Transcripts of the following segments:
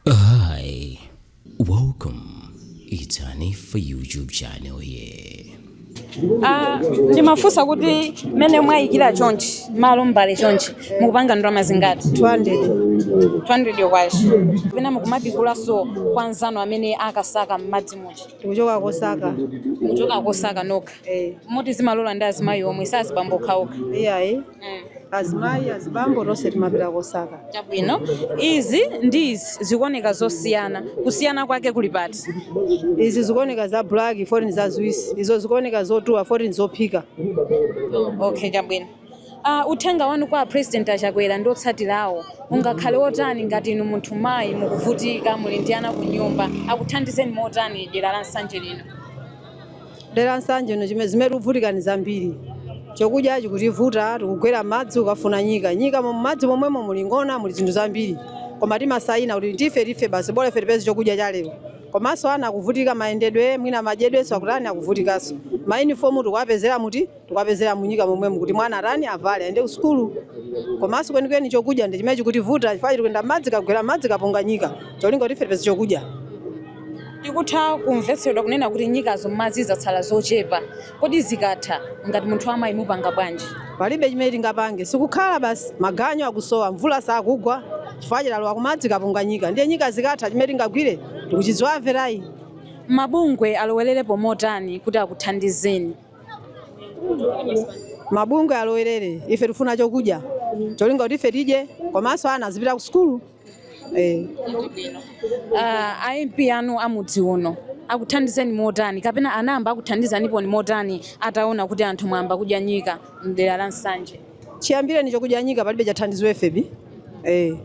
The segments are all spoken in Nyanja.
Hi, welcome. It's Hanifa YouTube channel here. Ah, ndimafunsa kuti mmene mwayikira chonchi malo mbale chonchi mukupanga ndalama zingati 200 200 kwacha pena mukumapikulaso kwa nzanu amene akasaka m'madzi muja tikuchoka kosaka kuchoka kosaka nokha Eh, moti zimalola ndi azimayi omwe sazibambo okhaokha iyayi azimayi azibambo tonse timapita kosaka chabwino izi ndi izi zikuoneka zosiyana kusiyana kwake kuli pati izi zikuoneka za black poti ndi zaziwisi izo zikuoneka zotuwa poti ndi zophika okay chabwino uh, uthenga wanu kwa a president a Chakwera ndi otsatirawo ungakhale wotani ngati inu munthu mayi mukuvutika muli ndi ana ku nyumba akuthandizeni motani dera la nsanje lino dera nsanje no chime- zimene tikuvutika ni zambiri chokudya chikutivuta tikugwera m'madzi kukafuna nyika nyika mu madzi momwemo muli ng'ona muli zinthu zambiri koma timasayina kuti tife tife basi bola ife tipeze chokudya cha lero komanso ana akuvutika mayendedwe mwina madyedwenso akutani akuvutikanso mayinifomu tikuwapezera muti tikwapezera munyika momwemu kuti mwana atani avale aende kusukulu komanso kwenikweni chokudya ndi chimene chikutivuta chifukwa tikuyenda m'madzi kagwera m'madzi kafuna nyika cholinga kuti ife tipeze chokudya tikutha kumvetsedwa kunena kuti nyikazo m'madzi zatsala zochepa kodi zikatha ngati munthu amayi mupanga bwanji palibe chimene tingapange tikukhala basi maganyu akusowa mvula sakugwa chifukwa cholowa kumadzi kafuna nyika ndiye nyika zikatha chimene tingagwire tikuchidziwa ife layi mabungwe alowererepo motani kuti akuthandizeni mabungwe alowerere ife tifuna chokudya cholinga kuti ife tidye komanso ana azipita ku sukulu eh. uh, a MP anu amudzi uno akuthandizeni motani kapena anayamba akuthandizaniponi motani ataona kuti anthu mwayamba kudya nyika mdera la nsanje chiyambireni chokudya nyika palibe chathandizo ife bi eh.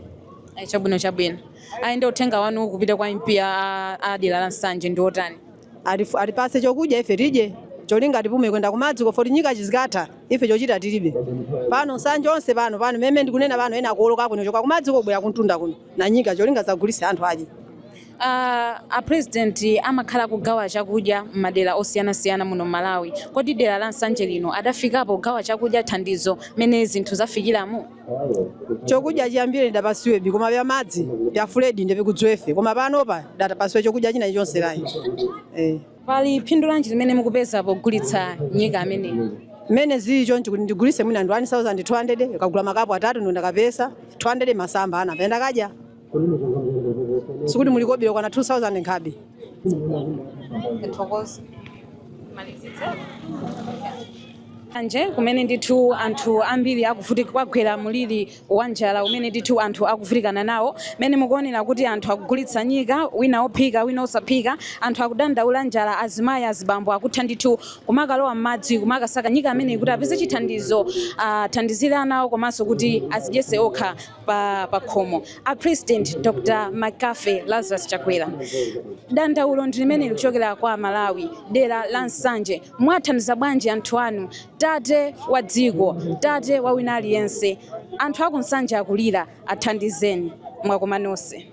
Ayi, chabwino chabwino ayende uthenga wanu kupita kwa mp a a dera la nsanje ndi otani Atif- atipase chokudya ife tidye cholinga tipume kwenda kumadziko poti nyika chizikatha ife chochita tilibe pano nsanje onse pano pano mmene ndikunena pano ena akuoloka kuchoka kumadziko kubwera kuntunda kuno na nyika cholinga zagulise anthu adye Uh, a president amakhala akugawa chakudya m'madera osiyanasiyana muno Malawi. Kodi dera la Nsanje lino adafikapo kugawa chakudya thandizo mene zinthu zafikiramu? chokudya chiyambire ndidapasiwe bi koma pya madzi pya flood ndi pikudziwa ife koma panopa ndidapasiwe chokudya china chonse layi eh. pali phindu lanji limene mukupeza pogulitsa nyika ameneyi mmene zili chonchi kuti ndigulise mwina ndi 1200 kagula makapu atatu ndiye ndakapeza 200 masamba ana mbayenda kadya sikuti muli kobira kwana 2000 nkhabe thokoza malizitse anje kumene ndithu anthu ambiri akuvutika kwagwera muliri wa njala umene ndithu anthu akuvutikana nawo mene mukuonera kuti anthu akugulitsa nyika wina ophika wina osaphika anthu akudandaula njala azimayi azibambo akutha ndithu kumakalowa m'madzi kumakasaka nyika ameneyi kuti apeze chithandizo athandizire ana awo komanso kuti azidyese okha pa pakhomo a president dr mccarthy lazarus chakwera dandaulo ndi limene likuchokera kwa amalawi dera la nsanje mwathandiza bwanji anthu anu tate wa dziko tate wa wina aliyense anthu aku nsanje akulira athandizeni mwakoma nonse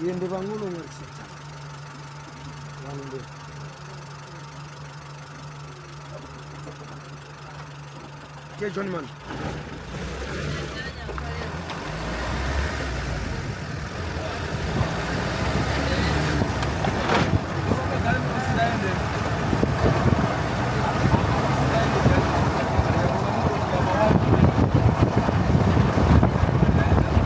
Iye ndi pang'ono ngalisitsa. Wanu ndi. Ke John man.